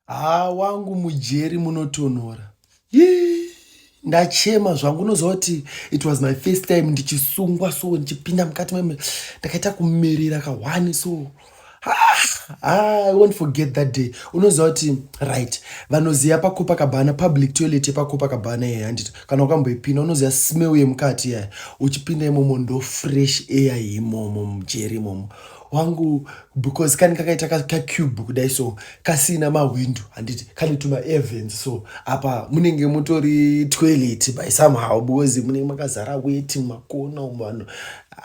Haa wangu mujeri munotonhora. Yii. Ndachema zvangu unozoti it was my first time ndichisungwa so ndichipinda mukati meme ndakaita kumerera kahwani so ah, I won't forget that day. Unoziva kuti right vanoziva paCopacabana public toilet yepaCopacabana yeye handiti kana ukamboipinda unoziva smell yemukati yaya uchipinda imomo ndo fresh air imomo mujeri imomo wangu because kani kakaita kacube ka kudai so kasina mahwindo handiti kane tuma evens so apa munenge mutori toilet by somehow because munenge makazara weti makona vanhu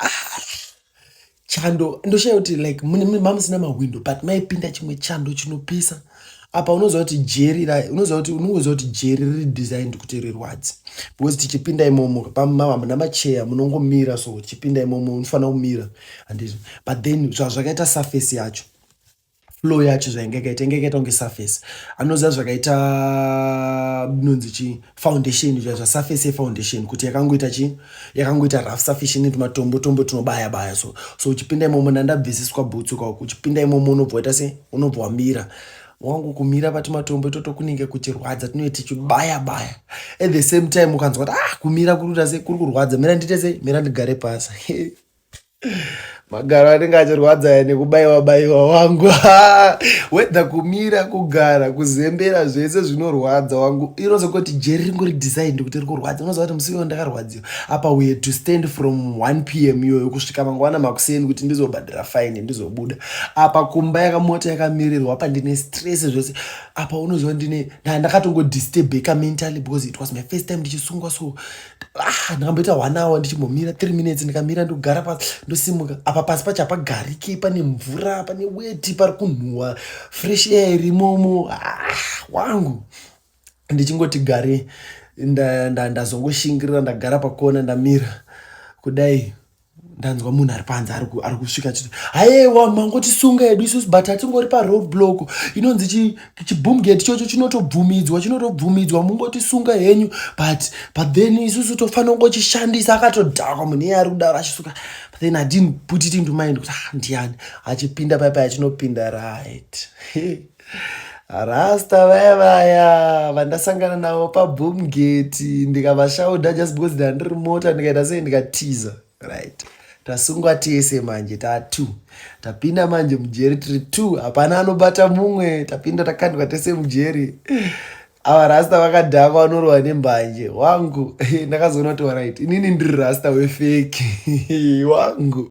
ah, chando ndoshaya kuti like mamusina mahwindo but maipinda chimwe chando chinopisa apa unoziva kuti jeri unoziva kuti unoziva kuti jeri riri designed kuti rirwadze because tichipinda imomo pamama muna macheya munongomira so tichipinda imomo unofanira kumira handizvo but then zvazvakaita surface yacho flow yacho zvainge yakaita inge yakaita kunge surface anoziva zvakaita nonzi chii foundation zva surface ye foundation kuti yakangoita chi yakangoita rough surface ine tumatombo tombo tunobaya baya so so uchipinda imomo ndandabvisiswa bhutsu ka uchipinda imomo unobva waita se unobva wamira wangu kumira pati matombo itoto kunenge kuchirwadza tinoita tichibaya baya at the same time ukanzwa kuti ah kumira kuri kuita se kuri kurwadza mira ndiite se mira ndigare pasi magaro anenge achirwadza nekubaiwa baiwa wangu wedha kumira kugara kuzembera zvese zvinorwadza wangu inoza kuti jeri ringori designed kuti rikurwadza unoziva kuti musiwo ndakarwadziwa apa we had to stand from 1 pm iyoyo kusvika mangwana makuseni kuti ndizobhadhira fine ndizobuda apa kumba yakamota yakamirirwa apa ndine stress zvese apa unoziva ndine ndakatongodistebeka mentally because it was my first time ndichisungwa so ah, ndakamboita one hour ndichimbomira three minutes ndikamira ndogara pasi ndosimuka apa pasi pacho hapagariki pane mvura pane weti pari kunhuhwa fresh air irimomo ah, wangu ndichingoti gare ndazongoshingirira nda, nda ndagara pakona ndamira kudai ndanzwa munhu ari panze ari kusvika chiti hayewa mangotisunga yedu isusu but hatingori paroad block inonzi chiboom gate chocho chinotobvumidzwa chinotobvumidzwa mungotisunga henyu but but then isusu tofanira kungochishandisa akatodhakwa munhu iye ari kudaro achisuka but then adidn't put it into mind kuti ah, ndiyani achipinda paipai achinopinda right rasta vaya vaya vandasangana navo paboom gate ndikavashauda just because ndandiri mota ndikaita sei ndikatiza right tasungwa tese manje tatu tapinda manje mujeri tiri two hapana anobata mumwe tapinda takandwa tese mujeri ava rasta vakadhakwa vanorohwa nembanje wangu ndakazoona kuti warit inini ndiri rasta wefeki wangu